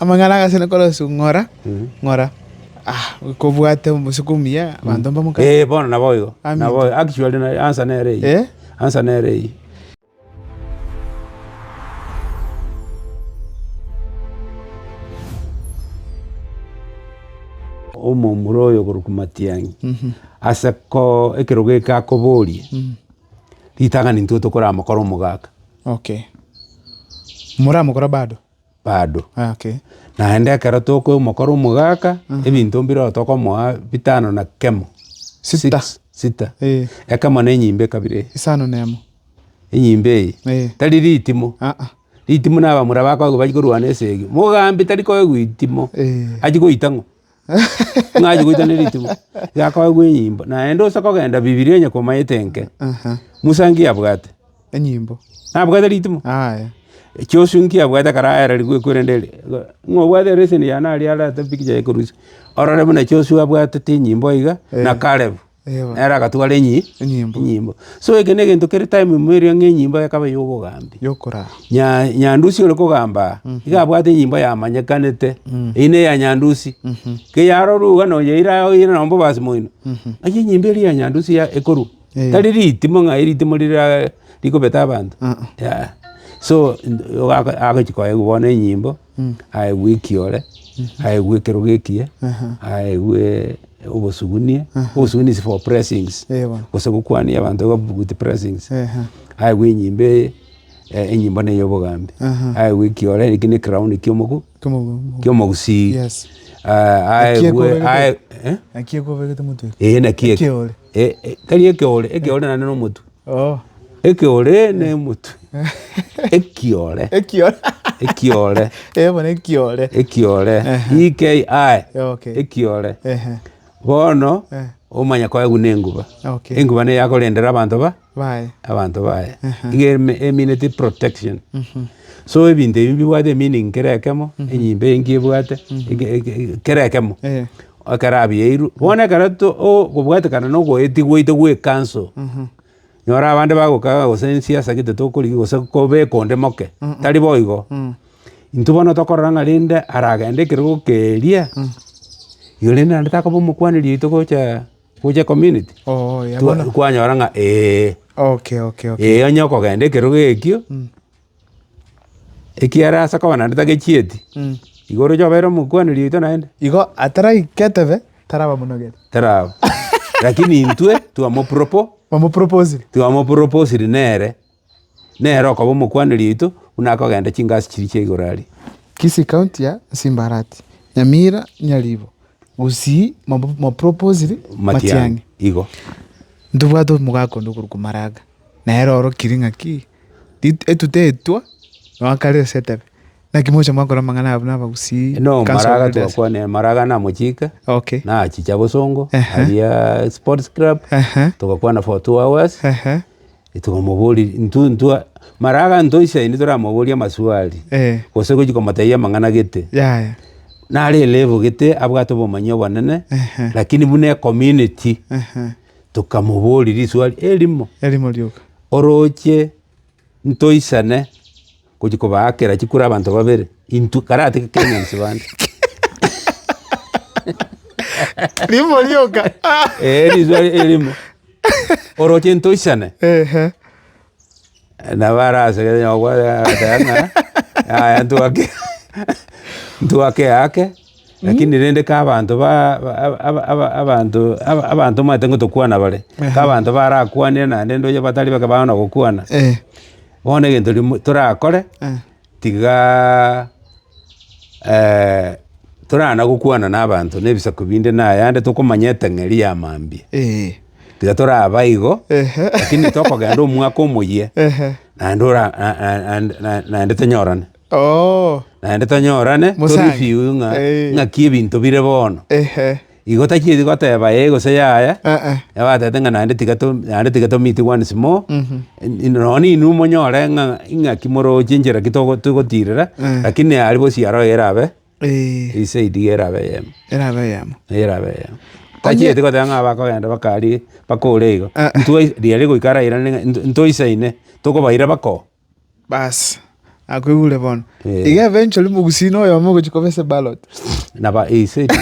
Amang'ana agasena korosia ng'ora, ng'ora, kobwate omosiko omuya, abanto mbamokana. Ee, bono naboigo, Amen. naboigo. Actually, na- answer nere eye. Eh? Answer nere eye. Omomura oyo okorokwa Matiang'i, ase ko ekerogo eke akoboria, ritang'ani intwe tokoramokora omogaka. Okay. Moramokora bado? bado. Okay. Naende ekero tokomokora omogaka, ebinto mbireo tokomoa bitano na kemo. Sita. Six, sita. Eh. Ekemo na enyimba ekabere. Isano na emo. Enyimba eye. Eh. Tari ritimo. Ah ah. Ritimo na abamura bakoigwa bari korwana esegi. Mogambi tari koigwa itimo. Eh. Achi goita ng'o? Ng'achi goita nerituko, yakoegwa enyimbo, naende ose kogenda Bibilia onye komaete enke. Musa nki yabwate? Enyimbo. Nabwate ritumo? Aya. Joshua nki yabwate ekero aerarigwe ekwerende eria? Ng'a obwate ereseni yane aria arate pikicha ya ekorusia. Orore buna Joshua abwatete enyimbo iga, na Caleb. Nere agatwara enyi Enyimbo. enyimbo. So eke na egento kere time ime erio ng'a enyimbo ekaba ya obogambi. Yokoraa. Nya- Nyandusi ore kogambaa, iga abwate enyimbo yamanyekanete, eyio na eya Nyandusi. Ki yarorwa iga na oyeire aye oyeire nonye mbobasi moino, ng'ai enyimbo eria ya Nyandusi ya ekorwa? Eh. Tari ritimo ng'ai ritimo riria rikobeta abanto, yaya. So, nd- ogaka- agochi koewa bono enyimbo. aegwe ekiore, aegwe ekerogo ekiya, aegwe obosugunia, obosugunia is for pressings, gose gokwania abanto with pressings, aegwe enyimbe eye, enyimbo na eyobogambi, aegwe ekiore ere ekio ne crown kia omoku kia omogusii, aegwe aegwe, eh? Naki ekobegete motwe eke. Eeh naki eke. Ekeore. Eeh tari ekeore, ekeore naende nomotwe. Ekeore n'emotwe. Ekiore. Ekiore. Ekiore. Ekiore. Bono omanye koegwa nenguba. Enguba neye akorendera abanto ba abanto baye. Igo emineti protection. So ebinto ebi mbibwate emeaning kera ekemo, enyimbe enki ebwate kera ekemo. Ekero abiairwe, bono ekero tokobwatekana na ogoetia gwaito gw'ekanso, nyora abande bagokaga gose nsiasa gete tokorigia gose kobeka onde moke, tari boigo. Intwe bono tokorora ng'a rende aragende ekerogo keria, igo rende naende takoba omokwaneri oito gocha gocha ecommunity. Twanyora ng'a ee. Ee onye okogenda ekerogo ekio. Ekiagera ase okoba naende tagechieti, igo oroche obeire omokwaneri oito naende. Igo ataraika etebe tarabamonogeti. Taraba. Rakini intwe twamopropo. Bamoproposire. Twamoproposire nere, nere okoba omokwaneri oito buna akogenda chingasi chiria chia igoro aria. Kisii county ya Simbarati, Nyamira, Nyaribo, Gusii mwamoproposire Matiang'i. Matiang'i. Igo. Ntobwate omogaka onde okorokwa Maraga. Nere orokiri ng'aki, etuta etwo noakarire ase etebe, naki moche mwakora amang'ana ayabwo na abagusii? No, mara agatugwa kwane, mara agane amochike, Okay. nachicha bosongo, Ehe. aria sports club, Ehe. togakwana for two hours, Ehe. togamoboria intwe intwe, mara agantoisia indi toramoborie amaswali, Eh. gose gochia komotebia amang'ana gete, Yaya. nare elevel gete abwate obomanyia obonene, Ehe. lakini buna ecommunity, Ehe. Tokamoboria risuali erimo Erimo rioka. oroche ntoisane gochia kobaakera chikura abanto babere intwe karatake Kenyans bande. Rimo rioka. Eh, risuali erimo. Oroche ntoisane. Ehe. Nabo arasegete onye gokwana agateba ng'a yaya ntwake ntwake eyake, lakini rende ka abanto ba ba aba aba abanto aba abanto omanyete ngotokwana bare, ka abanto barakwanire naende ndoche batari bake baana gokwana, bono egento rimo torakore. tiga torana gokwana na abanto na ebisaku binde na ayande tokomanya etang'eri ya mambia. Tiga toraba igo, lakini tokogenda omwaka omoyia naende ora naende tonyorane. Naende tonyorane to review ng'a ng'aki ebinto bire bono. Igo tachieti goteba ee gose yaya, Eh-eh. nabo agateba ng'a naende tiga to naende tiga to meet once more, Mhm. in- nonye nainwe monyore ng'a ing'aki moroche enchera ki togo- togotirera, Eh. lakini aria bosi aro iga erabe, Eh, hii side iga erabe eyemo, erabe eyemo. iga erabe eyemo. Onye- Tachieti goteba ng'a abakogenda bakaaria bakore igo, Eh. ntwai- riaria goika arairane ng'a int- ntoisaine, tokobaira bakoo. Baas, nakoigure bono. Iga eventually mogusii na oyomo ogochia koba ase ballot. Naba ease eria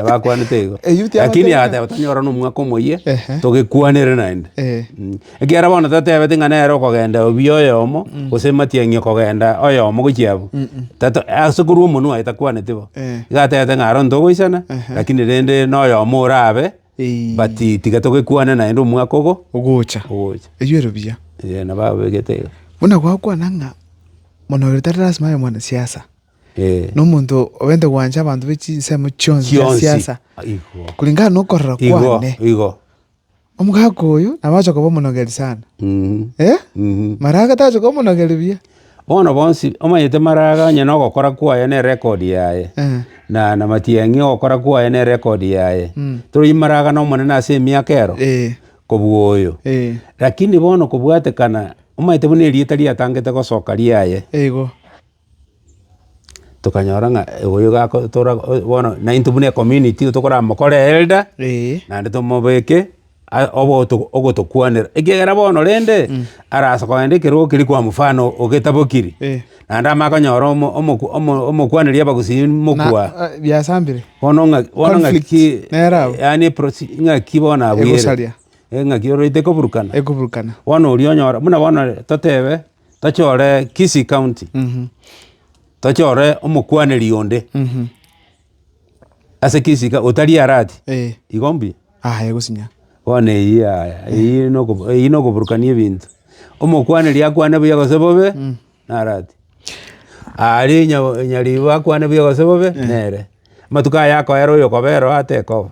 bakwanete igo. Eh, youth Lakini abateba. agateba tonyora na omwaka omoyia Ehe. togekwanere naende. Eh. Mm. Ekiagera bono tatebeti ng'a nere okogenda obi oyomo gose Matiang'i okogenda oyomo gochia abwo. Tato ase korwa omonwe oye takwaneti bo. Eh. Iga atebete ng'a aronto ogoisana Ehe. lakini rende na oyomo orabe. But tiga togekwane naende omwaka ogo Ogocha. ogocha. Erio ere buya. Eh, nabo abegete iga. Buna gwakwana ng'a mono oyo tari lasima abe mwanasiasa. Eh. Nomonto obente gwancha abanto be chinsemo chionsi chia Chionsi. siasa. Igo. Kulingana na okorora Igo, kwane. igo. Omogaka oyo nabo agocha koba omonogeri sana. Mhm, Eh? mhm. Mara agatache koba omonogeri buya. Bono bonsi omanyete Maraga onye nogokora kwaye ne rekodi yaye, na na Matiang'i ogokora kwaye ne rekodi yaye, toroiye Maraga n'Omonene ase emiaka ero kobua oyo. Lakini bono kobwatekana omanyete buna erieta riatangete gosoka riaye, tokanyora ng'a oyo gakotora bono naintwe buna ecommunity tokoramokore elder naende tomobeke. aa oboto ogotokwanera, ekiagera bono rende arase kogenda ekero keria kwa mfano ogetabokiri, Eh. naende amanye konyora omo omoku omo omokwaneri abagusii mokwa. Na- eh, biasambire. Bono ng'a bono ng'aki Conflict, ki nere abwo. yaani prosi ng'aki bono abwere. Egosaria. Eh, ng'aki ororete koburukana. Ekoburukana. Bono oria onyora buna bono totebe tochore Kisii County, Mhm. tochore omokwaneri onde. Mhm. Ase egesika otari arati, igo mbuya? Aye gosinya. Bono eyio yaya, eyio nogo eyio nogoburukania ebinto. Omokwaneri akwane buya gose bobe, narati. Aria onya onyaribo akwane buya gose bobe, nere. Amatuko aya akoera oyo okobera oo atekoba.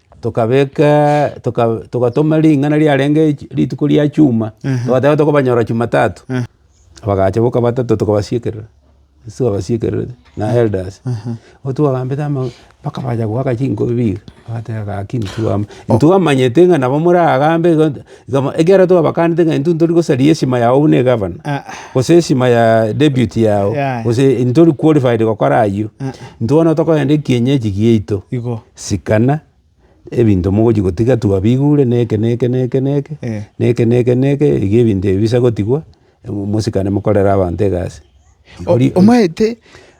Tokabeka, toka, togatoma ring'ana riarenge chi- rituko ria chuma, togateba tokobanyora chumatatu, bagacha boka batato tokabasiekerera, ase twabasiekerete na elders, nigo twagambete ama mpaka bacha goaka chinkobi biga, bagateba gaki ntitwama ntitwamanyete ng'a nabo moragambe igo nta iga mo ekiagera twabakante ng'a intwe ntori gosaria esima yago buna egavana, gose esima ya deputy yago, Yaya. gose ntori qualified gokora ayio, intwe bono tokogenda ekienyeji giaito, Igo. Sikana ebinto mogochia gotiga twabigure na eke na eke na eke na eke, Eh. na eke na eke na eke, iga ebinto ebi bisa gotigwa, mo- mosikane mokorere abanto egasi. O- Ori- omaete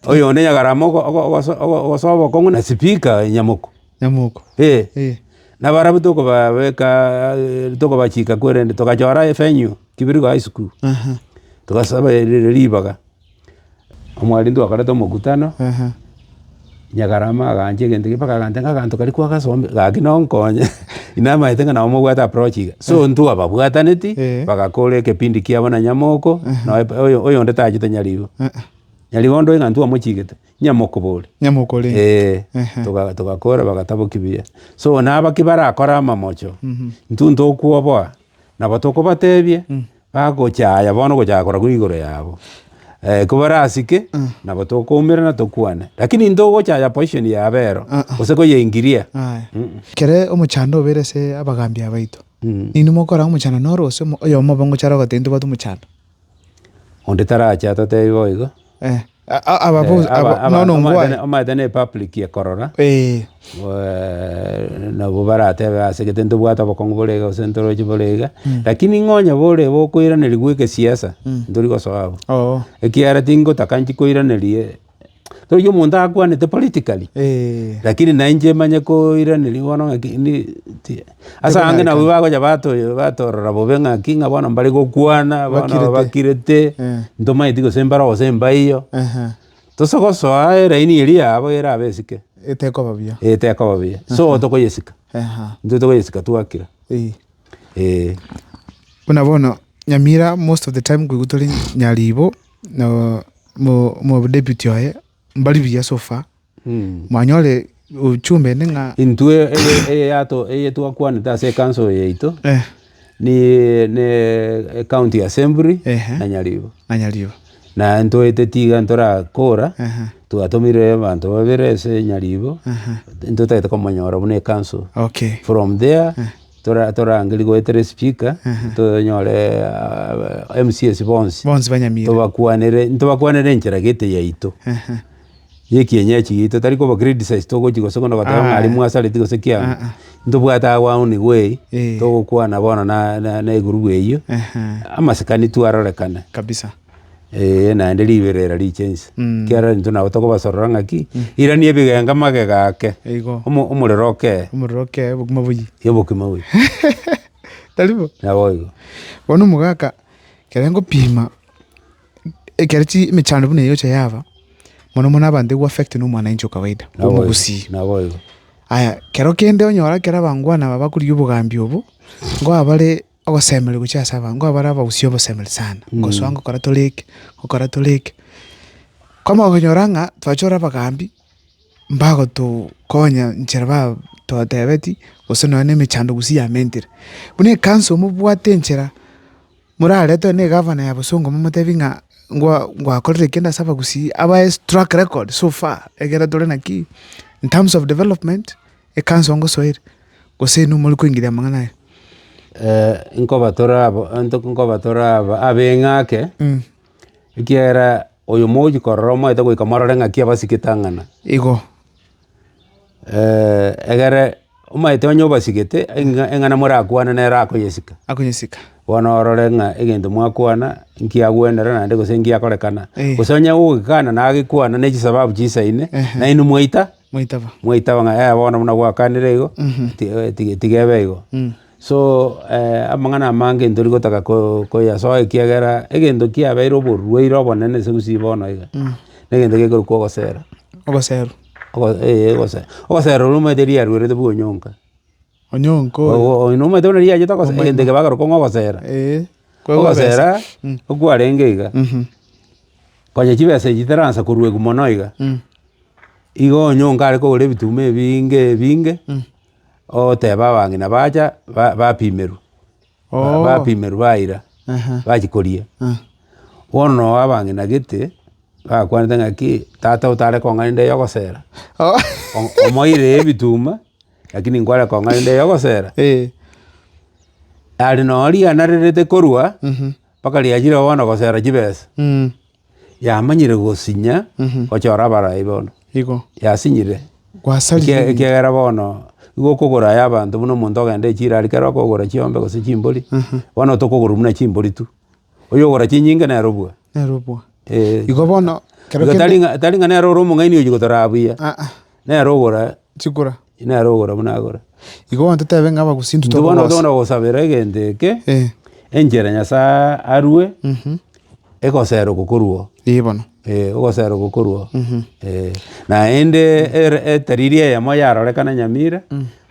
Oyo onde nyagarama ogo- ogo- ogoso- ogo- ogosoa obokong'u na sipika Nyamoku. nyamoko. Eh. Eh. Nabo arabwo tokobabeka eh, tokobachika kwerende togachora evenue, Kibirigo High School. Aha. Togasaba ri- ri- ribaga. Omorwoti twakorete omokutano, Nyakarama agancha egento ekeria mpaka aganteba ng'a aganto karia kwagasombe gaki nonkonye, inamaete ng'a nabo mobwate approach iga. So intwe ababwataneti, bagakora ekepindi kiabo na nyamoko, naye oyo oyonde tachete nyari igo. Nyari igo onde oyo ng'a intwe twamochiigete, nyamokobori. Nyamokore. Eeh. Toga togakora bagataboki buya. So nabaki barakore amamocho, intwe intokwoboa, nabo tokobatebia, Bagochaaya bono gochaka koragwa igoro yabo. Eh, kobarasike, nabo tokoumera na tokwane. Lakini ntogochaaya position ya abero, gose koyeingiria. Aye. Mm. Kere omochando obeire ase abagaambia baito. Mm. Ninwe mokora ng'a omochando noro ase omo- oyomo obe ngochara ogoteba intobwate omochando. Onde tarache atatebi boigo. Eh. Omanyete ne public ekorora, nabo baratebe ase gete ntobwate obokong'u bore iga gose ntoroche bore iga, lakini ng'a onye bore iga okoiranerigwa egesiasa, ntori gosoa abwo. Ekiagera tingotaka inche koiraneria, toria omonto akwanete politically, lakini nainche manye koiraneria bono ng'a ki. Ase abange nabo Tekonyarekana. bagocha bato- batorora bobe ng'aki ng'a bono mbare gokwana, bono Bakirete. bakirete, Eh. ntomaeti gose mbare ogosemba eyio. Ehe. Tosa gosoa eraini eria yabo erabe esike, Etekoba buya. eh, tekoba buya. So tokoyesika, Eha. intwe tokoyesika twakira. Eh. Eh. Buna bono Nyamira most of the time koigwa tore Nyaribo, no mo- omodeputy oye Mbari buya sofa, mwanyore uchumba ende ng'a... Intwe eye twakwanete ase ekanso yaito ne ecounty assembly na nyaribo. Naye ntoete tiga ntorakora twatomire abanto babere ase nyaribo ntotagete komonyora buna ekanso from there. Torarangerie goeta ere speaker, tonyore MCAs bonsi. Bonsi banyamire. Tobakwanere, ntobakwanere enchera gete yaito. Yekienyeji gito, tari koba criticize togochi gose kono goteba ng'a aria mwasareti gose ki ang'o. Ntobwate awauni gwei, togokwana bono na na na egurubu eyio, amasikani tu arorekane. Kabisa. Ee, naende riberera riche inse. Mm. Ekiagera intwe nabo tokobasorora ng'aki, irani ebigenga magega ake, Eigo. omo- omorero okee Omorero okee bokima boyie. y'obokima boyie. Tari bo? Naboigo. Bono omogaka ekero ngopima ekero chi emechando buna eyocha yaba, mono mono abanto ebu affect na omwanainchi o kawaida, Naboigo, omogusii. Naboigo. Aya, kero kende onyora ekero abangwana aba bakorigia obogambi obo, ngoa bare. Ogosemeria gochia ase abanto, nkobare abagusie obosemeri sana, ngosoa ngokora tore eke, ngokora tore eke. Kwamanya okonyora ng'a twachia korora abagambi, mbagotokonya nchera ba totebeti, gose nonya na emechando gusii yamentire. Buna ekansu omobwate enchera, morarete nonya na egavana ya bosongo momotebi ng'a ngwa ngwakorire eke ase abagusii, abae track record so far, ekero tore naki, in terms of development, Ekansa ongosoere, gose inwe more koingeria amang'ana aya? Nkoba toraba abeng'ake, ekiagera oyo mogochia korora omoete goika morore ng'aki abasike tang'ana. Igo. Egere omoete onye obasigete, eng'ana morakwane nere akoyesika. Akoyesika. Bono orore ng'a egento mwakwana nkiagwenerana naende gose nkiakorekana. Gose onye ogokekana nagekwana ne chisababu chisaine, nainwe mwaita. Mwaitaba. mwaitaba ng'a eh bono buna gwakanire igo, ti- eh, ti- tiga ebe igo. So amang'ana amange ntori gotaka ko- koyasoa ekiagera egento kiabeire oborwaire obonene ase gusii bono iga, na egento gekorokwa ogosera. Ogoseru. Ogo- eh, ogose- ogosera oria omanyete riarwerete bwa onyonka. Onye onkore. Omoete buna riachete ogosera, egento ekio bakorokwa ng'a ogosera. Ogosera okwarenge iga, konya chibesa echi chitaransa koruegwa mono iga, igo onye onga are kogora ebituma ebinge ebinge, oteba abang'ina bacha bapimerwe. bapimerwe baira, bachia koria. Bono noo abang'ina gete, bakwanete ng'a ki, tata otare kong'a inde yogosera, omoiree ebituma, lakini nkware kong'a inde yogosera. Are noo riana rerete korwa, mpaka riachire bono gosera chibesa. Yamanyire gosinya gochora abarai bono. Igo. Yasinyire. Gwasarire Ekiya- ime. ekiagera bono igo okogora aya abanto buna omonto ogenda echirari kare okogora chiombe gose chimbori bono tokogorwa buna chimbori tu oyogora chinyinge nere obua Nere obua. Eh. Igo bono kero Igo kende- tari ng'a- tari ng'a nere ore omong'aini oyi gotoraa buya. Aa. Nere ogora chikura. Nere ogora buna agora. Igo ntotebe ng'a abagusinto Intwe bono tokobasa. tokona gosabera egento eke, Eh, enchera Nyasae arue, egosera okokorua. eh bono. Eh, ogosera okokorua. Eh, naende ere- etariri eyemo yarorekana Nyamira,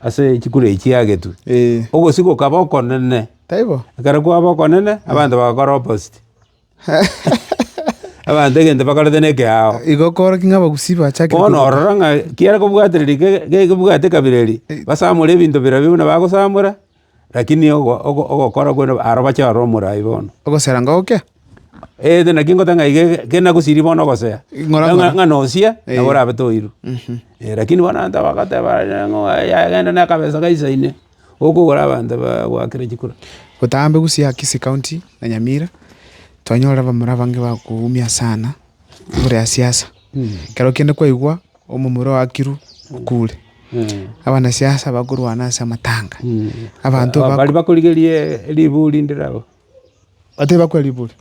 ase chikura echi yagetwe. Eh, Ogosika okaba okonene. taibo? Ekero kwaba okonene, abanto bagakora opposite. Abanto egento bakorete nekeao. Igo okoorokia ng'a abagusii bachakire Bono kobuga. ororo ng'a kiare kobwatereri ke- ke- kebwate ekabira eria, basamore ebinto birobio buna bagosamora, rakini ogo- ogo- ogokora kwene aro bache aro omorai bono. Ogosera ngoke? Eed naki ngoteba ng'a iga iga kenda gosiria bono ogosea. Ng'ora Ng'a- ng'ora. ng'a nosia, Eh. nabo orabe toirwe. Eh, rakini bono abanto abagoteba aye ng'a yagenda na akabesa gaisaine. Okogora abanto bagoakera chikura. Botambe gusii Akisi county na Nyamira twanyorire abamura abange bakoumia sana igoro ya siasa ekero kende kwaigwa omomura oakirwe okure abanasiasa bakorwana ase amatanga abanto baria bakorigerie riburi rinde rabo batari bakwa riburi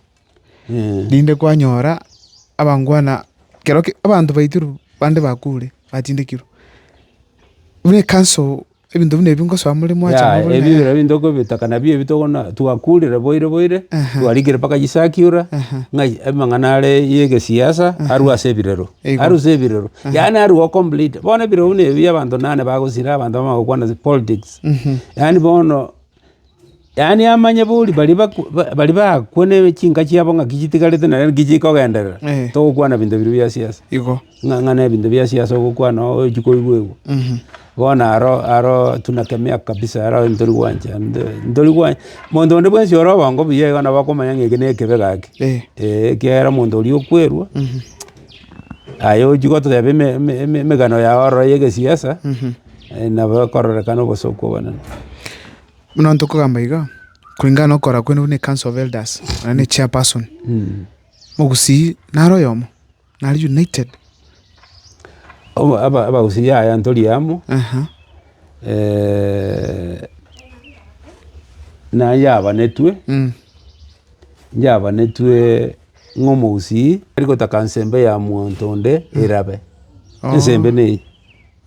rinde kwanyora abangwana ekero abanto baitirwe bande bakure batindekirwe buna ekanso. Ebinto buna ebi ngosoa more mwacha Yaya, magoro, na ebibero yaya. ebi ntokobitaka nabio ebi tokona- twakurire boire boire, Aha. twarikire mpaka chisakiura, Aha. ng'a amang'ana are y'egesiasa arue ase ebirero. Eigo. Arue ase ebirero. Yaani arue o complete. Bono ebirero buna ebi abanto nane bagosira abanto bamanye gokwana ase politics. Yaani bono. Yaani amanye bori baria baria bakwo ne chinka chiabo ng'aki chitigarete naende naki chikogenderera, togokwana binto biria bia siasa. Igo. Ng'a ng'a nebinto bia siasa ogokwana ochi koigwa igwa. Bono aro aro tunakemea kabisa aro ntori gwancha nde ntori gwa monto onde bwensi ore obongo buya iga nabo akomanya ng'a eke nekebe gaki. Eeh. Eeh ekiagera monto oria okwerwa, aye ochi goteba eme eme emegano yao ororo ya egesiasa. Nabo ekororekana obosio kw'obonene. Buna ntokogamba iga, koreng'ana nokora kwene buna ecouncil of elders, onye ne chairperson, mogusii nare oyomo, nare united. Abagusii yaya ntori amo, na yabanetwe, yabanetwe ng'a omogusii tarigotaka nsembe ya monto onde erabe, ensembe neye.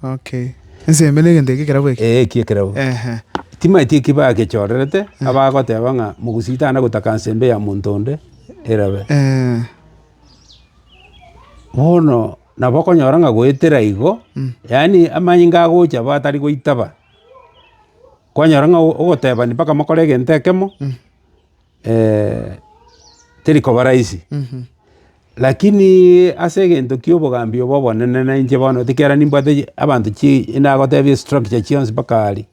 Okay. Ensembe negento eke ekerabo eke. Ee, ekia ekerabo. Ehe. Timaeti eki bagechorerete, abagoteba ng'a mogusii tana gotaka ensembe ya monto onde erabe. Ee. Bono nabo okonyora ng'a goetera igo, yaani amanyinga agocha abwo atari goitaba, kwanyora ng'a ogoteba mpaka mokore egento ekemo, teri koba rahisi, lakini ase egento kia obogambi obo obonene na inche bono ekiagera nimbwate abanto chii nagotebie estructure chionsi mpaka aria.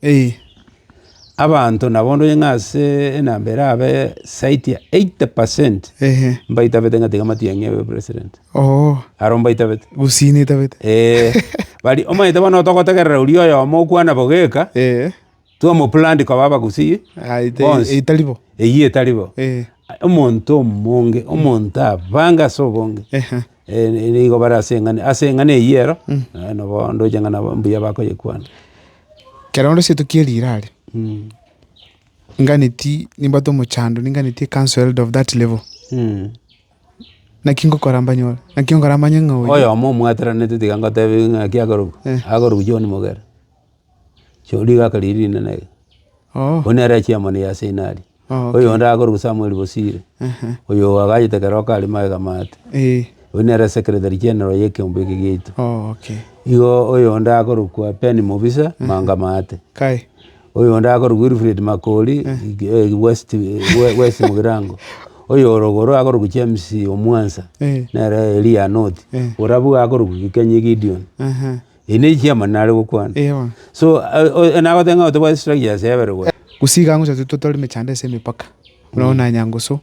Abanto nabo ndonye ng'a ase enamba erabe zaidi ya eighty percent mbaitabete ng'a tiga matiang'i abe president. Aro mbaitabete. Omanyete bono togotegerera oria oyomo okwana bogeka. twamoplant koba abagusii bonsi. etari bo. Eyio etari bo. Omonto omonge, omonto abange ase obonge. Nigo bare ase eng'ana, ase eng'ana eyio ero, naye nabo ndoche ng'a nabo mbuya bakoyekwana. Kero onde seito kie rirari, nganeti nimbwate omochando, ninganeti a council elder of that level, naki ngokora mbanyore? Naki ngokora manye ng'a oyo. Oyomo omwateranete tiga ngotebi ng'aki akorokwa, akorokwa John Mogera. Chio rigaka riria rinene iga. Oyio nere chairman ya Arsenali. Oyio onde akoruga Samuel Bosire. Oyio agachete ekero kare magega mato. Oyio nere secretary general ya ekeombe eke giaito. Igo oyo onde akorokwa Ben Mobisa, manga maate. Oyio onde akorokwa Wilfred Makori, West Mugirango. Oyio ore igoro akorokwa James Omwansa, nere Eria North. Ore abwo akorokwa Gikenyi Gideon. Eyi ne chiama nare gokwana. Ewa. So, nagoteba ng'a tobwate structures yebere gose. Gose iga ngocha totore emechando ase emepaka, buna bono na Nyangusu,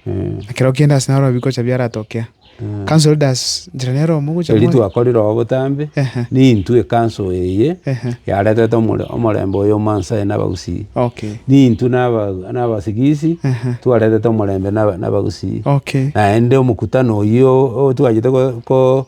na kereo kende ase naro bikocha biaratokea. Council elders njira nero omo gocha Erio twakorire oo botambe, nintwe council eye yaretete omorembe oyo o Maasai na Abagusii. Okay. Nintwe na Abasigisi twaretete omorembe na Abagusii. Okay. Naende omokutano oyio twachete ko.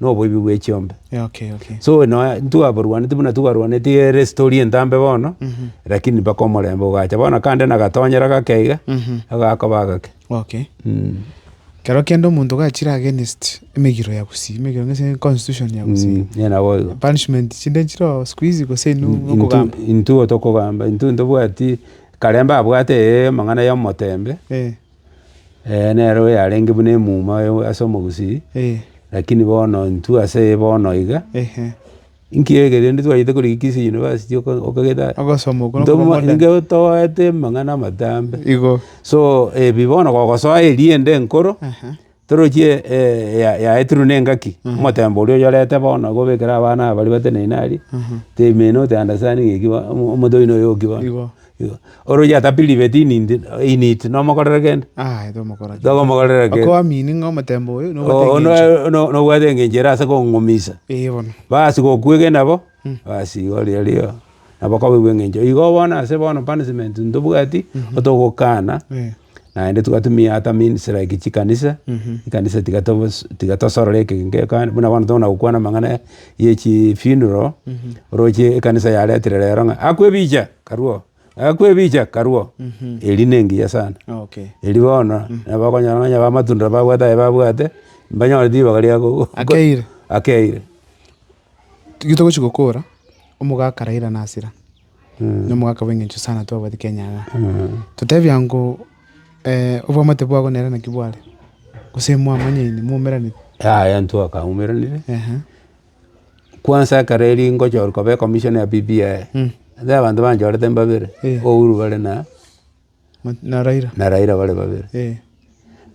noboibi bwe chiombe. Yeah, okay, okay. So nonya ntwaborwaneti buna twarwaneti erestori entambe bono, lakini mpaka omorembe ogacha. Bono kande nagatonyera gake iga, agakoba agake. Okay. Mm. Kero kende omonto gachire against emegiro ya Gusii, emegiro ng'ase constitution ya Gusii. Mm, yeah, nabo igo. Punishment chinde chiro siku hizi gose inu Intu- okogamba. intuo tokogamba intwe ntobwati karembe abwate amang'ana ya omotembe Eh, Ee, nere oyo yarenge buna emuma oyo ase omogusii, lakini bono intwe aseye bono iga, inki ege rende twachete korigi Kisii University oko okagete aye? Ogosoma okwo Ntomo nokobua modern. nigo toete amang'ana amatambe. Igo. So, ebi bono gogosoa eriende enkoro, Toroche yaetirwe nengaki, omotemba oria oyorete bono agobekere abana aba baria bateneine aria, they may not understand ng'aki bono omonto oino oyo oki bono. Igo. Igo. Ore oyio atapire ribeti inindi init nomokorere kende? Aye tomokora kende. Togomokorera kende. Okoba meaning ng'a omotemba oyo nobwate Oo eng'encho. noe no- nobwate eng'encho ere ase kong'umisa. Eeh bono. Bas gokwegena nabo, bas igo riario nabo koba eng'encho. Igo bono ase bono punishment ntobwati, otogokana. Naende twatumia ata means like chikanisa, ekanisa tiga tobos tiga tosorore eke gekani buna bono tokona gokwana amang'ana ya yechi funeral, oroche ekanisa yaretire rero ng'a akwebicha karue oo, akwebicha karue oo, eria na engiya sana. Okay. Eria bono nabo okonyora onye ba amatunda babwate aye babwate, mbanyore ribaga ria go- Akeire. akeire. Tiga togochi gokora, omogaka Raila nasira. nomogaka bw'engencho sana twabwate Kenya ng'a totebia ngo obwamate bwabo nere naki bware gose mwamanyaine mwaumeranete. Yaya intwe twakaumeranire, kwansa ekero erio ngochorwa koba ecommissioner ya BBI, abanto banchorete mbabere, Ouru bare na. na Raila bare babere.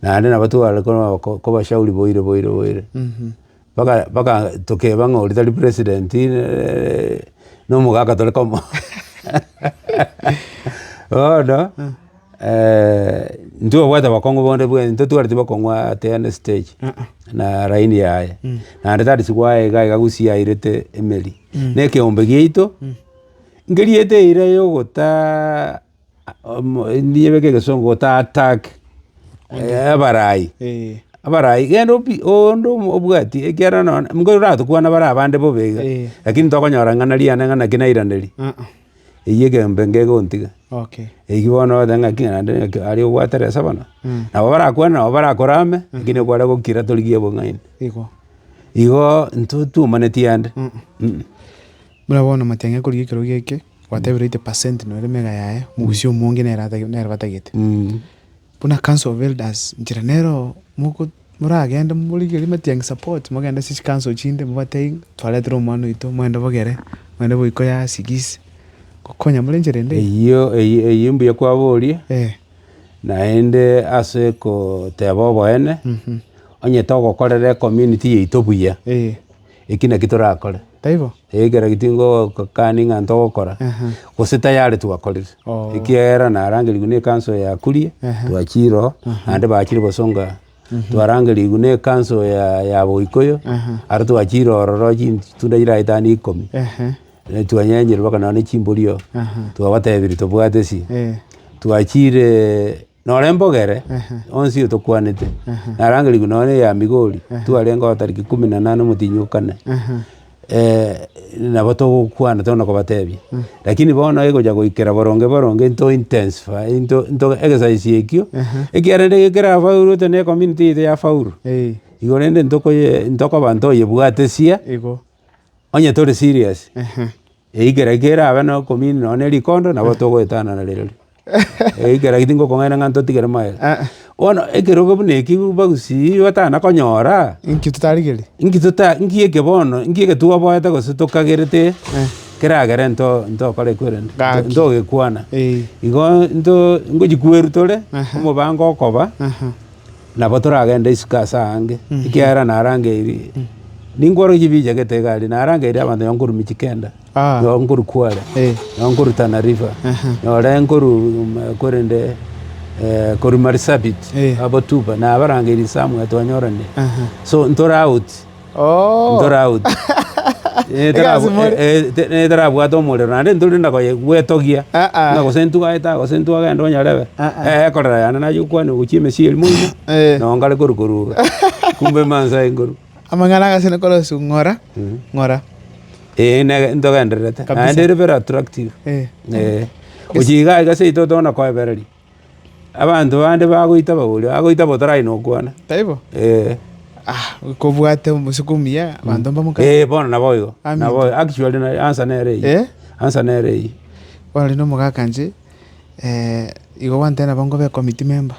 Naende nabo tware korwa kobashauri boire boire boire. Mpaka mpaka tokeba ng'a oria tari president na omogaka tore komoa. Bono ntibabwate abakong'u bonde bwenerete ntitwareti bokong'u ate ande stage na laini yaye. Naende tari sigoaye iga iga gusii airete emeri. Na ekeombe giaito nkeriete eira ya ogotaa. niyebeke egesongo otaatak abaraai abaraai genda obi onde obwati ekiagera nonye nigo oratokwane bare abande bobe iga lakini tokonyora ng'ana riane ng'a naki nairaneria eywo egeombe nigo egontiga eywo bono ogoteba ng'aki ng'a naende ng'aki aria obwate resa bono nabo barakwane nabo barakorame lakini okware gokira torigia obong'aini igo intwe twaumaneti aande. Buna bono amatiang'i akorigia ekerogo eke. Gwatebiirwe 80 percent nore mega yaye, omogusia omonge nere ata- nere batagete. Mm. Buna council of elders nchera nero moko moragende morigerie matiangi support mogende ase chi council chinde mobatebie ng'a twaretire omwana oito mwende bogere mwende boiko ya sigisi gokonya more enchera ende eye. Eyio eyio eyio mbuya kwaborie, Eh, naende ase koteba oboene, onye togokorera ecommunity yaito buya, eh, eki naki torakore. taibo? Ekero tingokani ng'a ntogokora, gose tayari twakorire, ekiagera narangerigwe ne ekanso eye yakurie, twachire ororo, naende bachire gosonga, twarangerigwe ne ekanso ya boikoyo, aro twachire ororo chintunda chire aetano ikomi, twanyenyire mpaka nonya ne chimbori oo, twabatebirie tobwate esi, twachire. Noro embogere onsi oyo tokwanete, narangerigwe nonye na eya Migori, twarenge oo tariki kumi na nane omotienyi o kane, nabo togokwana tore na kobatebia. Lakini bono egocha goikera boronge boronge nto intensify nto nto exercise ekio, ekiagera rende ekero kerafaulu ote na ecommunity yaito yafaulu, igo rende ntokoye ntokoba ntoyebwatesia onye tore serious. Eikera eke erabe nokomini nonya ne rikondo nabo togoetana narero ri eikera eke tingokong'aina ng'a ntotigere maega. Bono ekerogo buna eki bagusii batana konyora, Inki totarigerie? inki tota inki eke bono inki eke twaboete gose tokagerete keragere nto ntokore kwerende Gaki. ntogekwana. Ee. Igo nto ngochikwerutore Aha. omobango okoba Aha. Nabo toragende isiko ase aange, ekiagera narangeirie, ninkworokie ebiichegete egari, narangeirie abanto nyoba nkorwa Mijikenda, Ah. nyoba nkorwa Kwale, Eh. nyoba nkorwa Tana River, Aha. nyore nkorwa mm, korende eh, korwa Marsabit, Eh. abo Tuba, nabarangeirie Samuel twanyorane. Aha. So ntore out. ntore out. Netarabwate omorero naende ntori na koye gwetogia. Buna gose ntwagete gose ntwagenda onyarebe ekorera yane naye okwane gochia emesii eria moino nao nkare korwa koruga. Kumbe mansa aye nkorwa. Amang'ana agasene korosia ng'ora ng'ora. Eeh ntogendererete naende ere very attractive. Gochia iga iga seito otoma na koebereria. Abanto bande bagoita bagore, bagoita botarai nokwana. Taibo? Ee. Ah, kobwate omosiko omuya, abanto mbamokana. Ee, bono nabo igo. Amen. Nabo actually na answer nere eyio. Eh? Answer nere eyio. Bono rende omogaka inche, eh, igo gwantebia nabo nkobe committee member.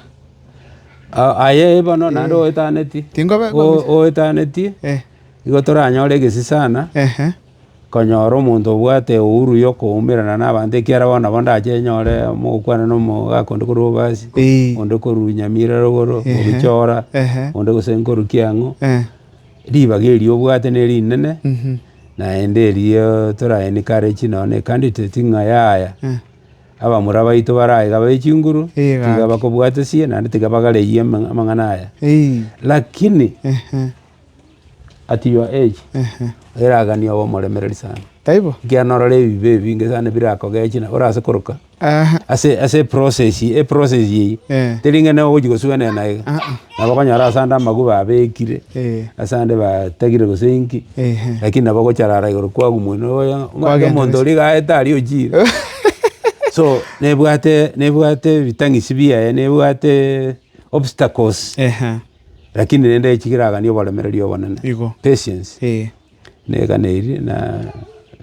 Ah, aye bono naende oetaneti. Tingobe O- committee. oetaneti, Eh, igo toranyore egesisana. ehe. Konyora omonto obwate eouru y'okoumerana nabaanto, ekiagera bono nabo ndache nyore mogokwana na omogaka onde korwa Obasi, onde korwa Nyamira rogoro, Obichora, onde gose nkorukia ang'o. Ribaga erio obwate nerinene, naende erio tore encourage nonye na candidate ng'a yaya, abamura baito bare aiga be chinguru, tiga bakobwatesie naende tiga bagareyie amang'ana aya. Lakini At your age Ehe. eragani obe omoremereri sana, Taibo? ekiagera orore ebibe ebinge sana birakogeche na orase koroka Aha. ase ase eprocess eprocess eyio Eh. teri ng'a nigo ogochi gosuenana na iga. Ah, ah. Nabo okonyora ase ande amagwe babekire, Eh. ase ande batagire gose inki, Ehe. lakini nabo ogocharara igoro kwabu mwene oye ng'a Kwagenda omonto gose. oria iga aete aria ochire. So nebwate nebwate ebitang'isi biaye, nebwate obstacles. Ehe. Lakini rende echi keraganie oboremereria obonene, Igo. patience, Ee. negane eri na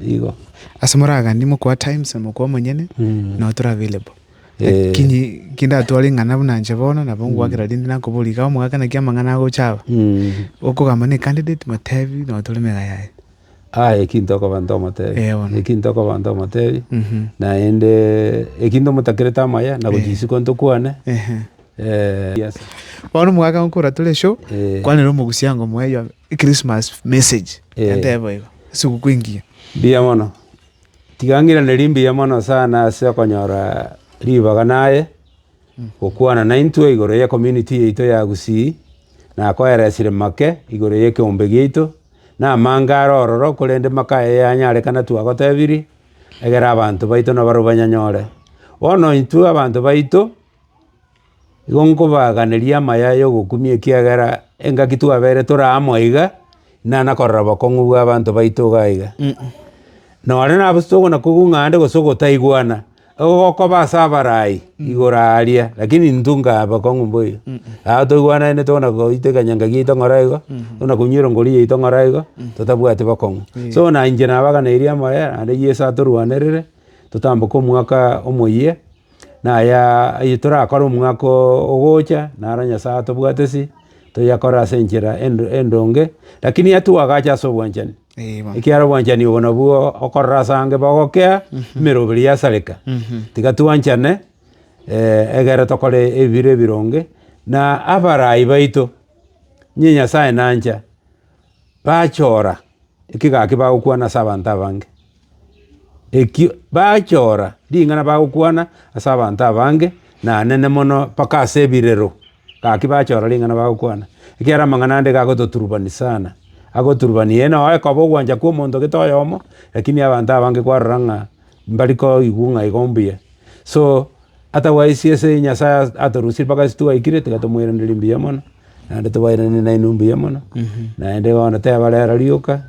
igo. Ase moragani mokoa times na mokoa omonyene Mm. not available. Eh. Lakini kindatware ing'ana buna nche bono nabo ngwakera rinde nakoboria iga omogaka naki amang'ana agocha aba. Mm. Okogamba ne candidate motebi notore mega yaye. Aye eki ntokoba ntomotebi, Eh, bono. eki ntokoba ntomotebi, Mhm. naende eki ntomotakerete amaya na gochia isiko ntokwane, Ehe. eh, yes. Bono omogaka gonkora tore eshoo, Eh. kwanera omogusyango moe your Christmas message. Eh. Gentee bo igo. Esiguku engiya. Mbuya mono. Tiga ng'iranerie mbuya mono sana ase okonyora ribaga naye, gokwana naintwe igoro ye community yaito ya Gusii, nakoeresire make igoro ye ekeombe giaito, Namange are ororo, korende makaya eyanyarekana twagotebirie, egere abanto baito nabarabwo banyanyore. Bono intwe abanto baito, igo nkobaaganeria amaya y'ogokumia ekiagera engaki twabeire tore amo iga, inana korora bokong'u bw'abanto baito iga iga. Nonye nabosi tokona kogung'a ande gose ogotaigwana. Ogokoba ase abarai igoro aaria, lakini intwe nkabakong'u mboigo. Aa toigwanainete buna goita ekenyanga giaito ng'ora igo, buna konywera enkori yaito ng'ora igo, totabwati bokong'u. So buna inche nabaganeirie amayia naende Yeso atorwanerere, totamboke omwaka omoyia, naya aye torakore omwaka oo ogocha, naro Nyasae atobwatesi, toyakore ase enchera endo endonge, lakini atwagache ase obwanchani. Ekiagera obwanchani obo nabwo okorora ase ange bogokea emeroberi yasareka. Tiga twanchane egere tokore ebiro ebironge, na abarai baito niyo Nyasae nancha bachora ekigaki bagokwana ase abanto abange. Ekio bachora ring'ana bagokwana ase abanto abange na anene mono mpaka ase ebirero. Gaki bachora ring'ana bagokwana, ekiagera amang'ana ande gagototurubani sana, agoturubani ee noo ekoba ogwancha kw'omonto gete oyomo, lakini abanto abange kwarora ng'a mbari koigwa ng'a igo mbuya. So, atherwise ase Nyasaye as- atorusie mpaka ase twaikire tiga tomoiranerie mbuya mono, naende tobairanerie nainwe mbuya mono, naende bono tebarera rioka.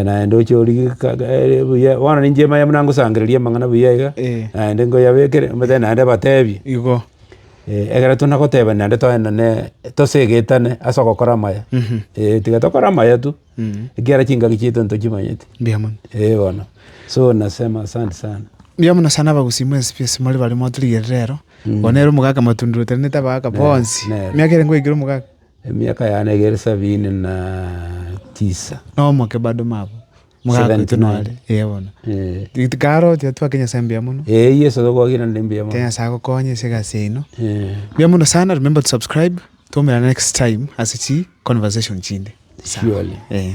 naende oche origeka gaere buya, bono ninche manye buna ngosangereria amang'ana buya iga, Eh. naende nkoyabekere omanyete naende batebie, Igo. ekero tuna goteba naende togende ne tosegetane ase ogokora amaya, eh tiga tokore amaya tu, ekiagera chingaki chiaito ntochimanyeti, Mbuya mono. eh bono. So nasema asante sana. Mbuya mono sana abagusii mwensi pies more baria mwatorigerire ero, obo nere omogaka matundurutane tabagaka bonsi, nere. emiaka ere ngoikire omogaka. Emiaka yane egere sabini na tisa. Nomoke bado mabo mogakoitwe nore. Ee bono. Tikare oteba twake Nyasae mbuya mono. Ee Yesu tokwagire ndi mbuya mono. Tena Nyasae agokonye ase egasi yaino. Mbuya mono sana remember to subscribe. Twaomerana next time ase chi conversation chinde. Surely. Ee.